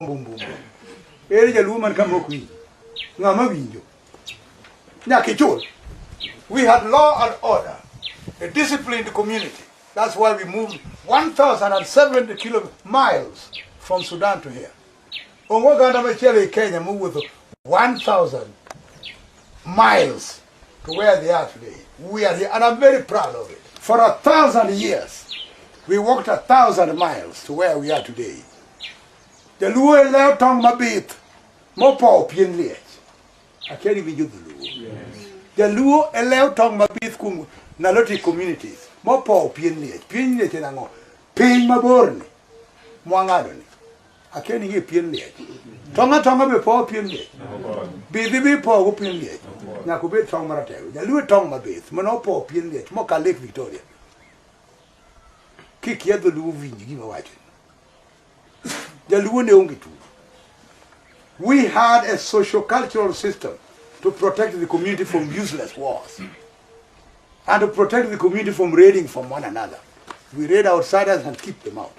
mbumbumbu ere jaluo man kama ok winjo ng'ama winjo nyaka ichul we had law and order a disciplined community that's why we moved 1070 kilo miles from sudan to here onge oganda machielo e kenya mowuotho 1000 miles to where the earth lay. We are here, and I'm very proud of it. For a thousand years, we walked a thousand miles to where we are today. The Luo leo tong mabith mopowo pien liech. Akia ni winjo dholuo. The Luo leo tong mabith kuom Naloti communities mopowo pien liech. Pien liech en ang'o? Piny maborni mwang'adoni. Akia ni ng'e pien liech. Tong' atong'a be powo pien liech. Bidhi be ipowogo pien liech. Nyaka obed tong' maratego. Jaluo e tong' mabith mane opowo pien liech moka Lake Victoria. Kikia dholuo winji gima wacho. Jaluo ne onge tuo. We had a social cultural system to protect the community from useless wars and to protect the community from raiding from one another. We raid outsiders and keep them out.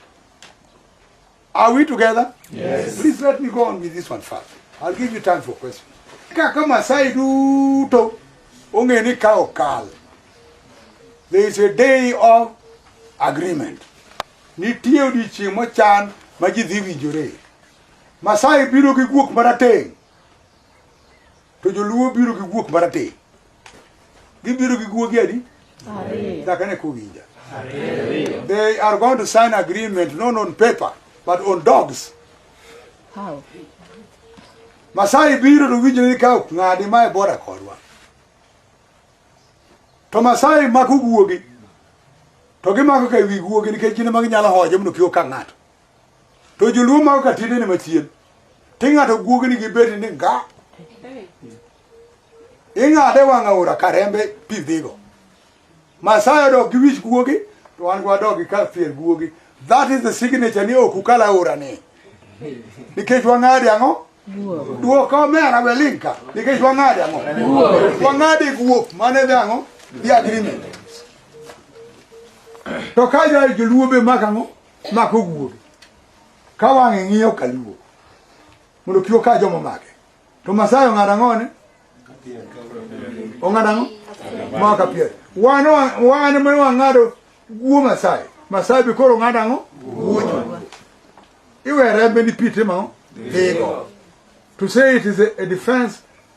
Are we together? Yes. Please let me go on with this one first. I'll give you time for questions. Kaka Masai duto ongeni ka okal. There is a day of agreement. Nitie odiechieng' mochan ma ji dhi winjore. Masai biro gi guok marateng' To joluo biro gi guok marateng'. Gibiro gi guogi adi? Ariyo. Nyaka ne kuwinja. Ariyo. They are going to sign agreement not on paper but on dogs. How? Masai biro to winjo ni ka ok ng'adi ma e bora kodwa. To Masai mako guogi to gimako ka wi guogi nikech gin ema ginyalo hoje mondo kik oka ng'ato. to joluo mako ka tiendene machien to ing'ado guogni gi beti ni nga ing'ade wang' aora ka rembe pi dhigo masayo dok gi wich guogi to wan gwadok gi ka fier guogi that is the signature ni ok ukal aora ni nikech wang'adi ang'o duoko omera welinka nikech wang'adi ang'o wang'adi guok mane dhi ang'o the agreement to ka joluo be mak ang'o Mako wuogi. Ka wang'e ng'iyo kaluo. Mondo kio ka jomo make. To masayo ng'ada ng'one. Ong'ada ng'o? Maka pier. Wan wan me wang'ado guo masayo. Masayo bi koro ng'ada ng'o? Wuogi. Iwe rembe ni pite ma. Dhigo. To say it is a, a defense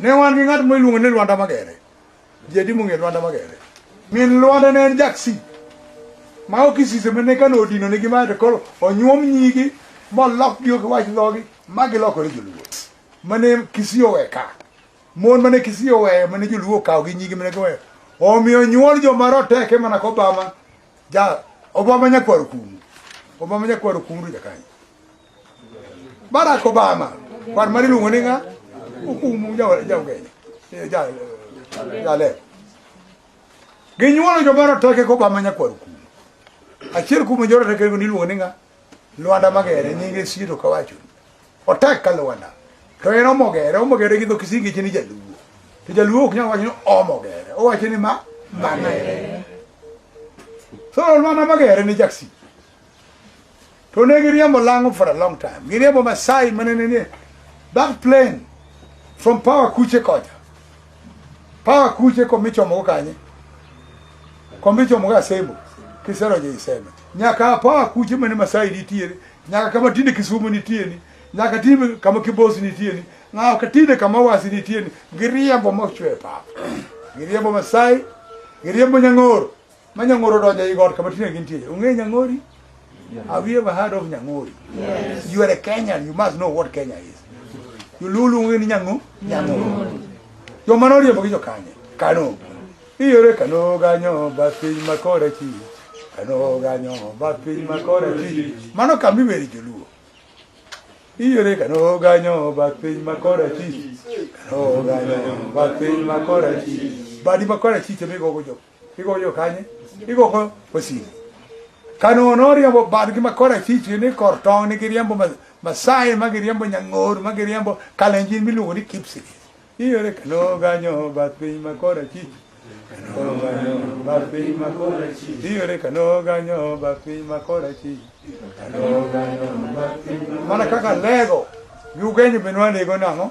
Ne wan gi ng'at miluongo ni Lwanda Magere. Ji adi mong'eyo Lwanda Magere? Min Lwanda ne en jaksi ma ok isise mane ka nodino nigi mae to koro onyuom nyigi molokgi ok wach dhogi ma gilokore joluo mane Kisii owe ka mon mane Kisii oweyo mane joluo okawo gi nyigi mane giweyo omiyo nyuol joma roteke mana kobama ja obama nyakwaro kumu obama nyakwaro kumu jakanyo Barack Obama kwan mari luongo ni nga okumu jaugenya eh, jale eh, ginyuolo joma roteke ko Obama nyakwar kumu achiel kumu jo roteke go niluongo ni nga Lwanda Magere nyinge sito kawacho otek ka Lwanda to en omogere omogere gi dho kisingi chini jaluo to jaluo ok nyal wacho ni omogere owacho ni ma magere so Lwanda Magere ni jaksi To ne giriembo lang'o for a long time. Giriembo Masai mane ne nie back plane from power kuche kocha. Power kuche komichomogo kanye. Komichomogo Asembo. Kiserojo Iseme. Nyaka power kuche mane Masai nitiere. Nyaka kama tinde Kisumu nitie ni. Nyaka tinde kama Kibosi nitie ni. Nyaka tinde kama Wasi nitie ni. Giriembo mochwe pap. Giriembo Masai. Giriembo Nyang'oro. Ma Nyang'oro donjo ei got kama Tina gintie. Ung'e Nyang'ori? Have you ever heard of Nyang'ori? Yes. You are a Kenyan, you must know what Kenya is. You lulu ung'e ni Nyang'o? Nyang'ori. Yo mano oriembo gi jokanye. Kano. Iyore kano ganyo basi makore chi. Kano ganyo basi makore chi. Mano kami weri joluo. Iyore kano ganyo basi makore chi. Kano ganyo basi makore chi. Badi makore chi temigo go jokanye. igo yokanye igo ko osiri kanono oriambo bad gi makora chichi ni kor tong ni giriambo masai ma giriambo nyang'or ma giriambo kalenjin miluongo ni kipsi iyore kano ganyo bath piny makora chichi kano ganyo bath piny makora chichi iyore kano ganyo bath piny makora chichi kano ganyo bath piny mana kaka lego gi ugenyo benwa lego nang'o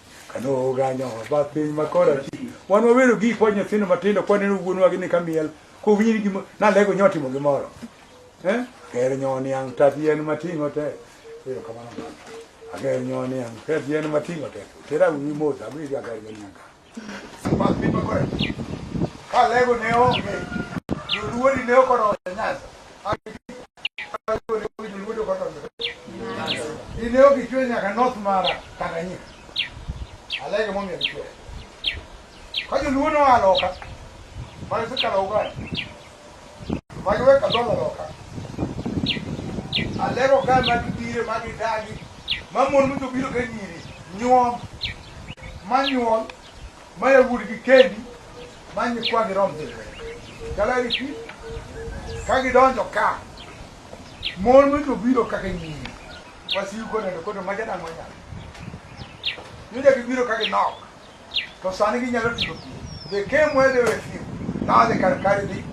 Kanoganyo ba piny makora ti. Wan wabedo gi kwa nyithindo matindo kwa neno wuonwa gi ni kamiel. Ko winyi gimo na lego nyoti mo gimoro. Eh? Ker nyoni ang tatien matingo te. Pero kamano. Ager nyoni ang tatien matingo te. Tera wi mota mi ga ger nyoni ang. Ba piny makora. Ka lego ne onge. Joluo ni ne okoro nyanza. Dine ok ichwe nyaka north mara Tanganyika. Alege momiyo gichwe. Ka joluo noa loka, mane sikalo Uganda, magi we kadolo loka. Alego ka magi bire, magi dagi, ma mon mito biro ka nyiri, nyuom, ma nyuol, Ma yawuot gi kendi ma nyikwagi rom dhi lweny. Galeri pi ka gidonjo ka mon ma jobiro kaka nyiri wasiu koneno koto ma jadang' wanyalo yudo gibiro ka ginok to sani ginyalo timo pi they came where they were few now they can carry the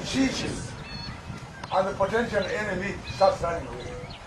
issues and the potential enemy starts running away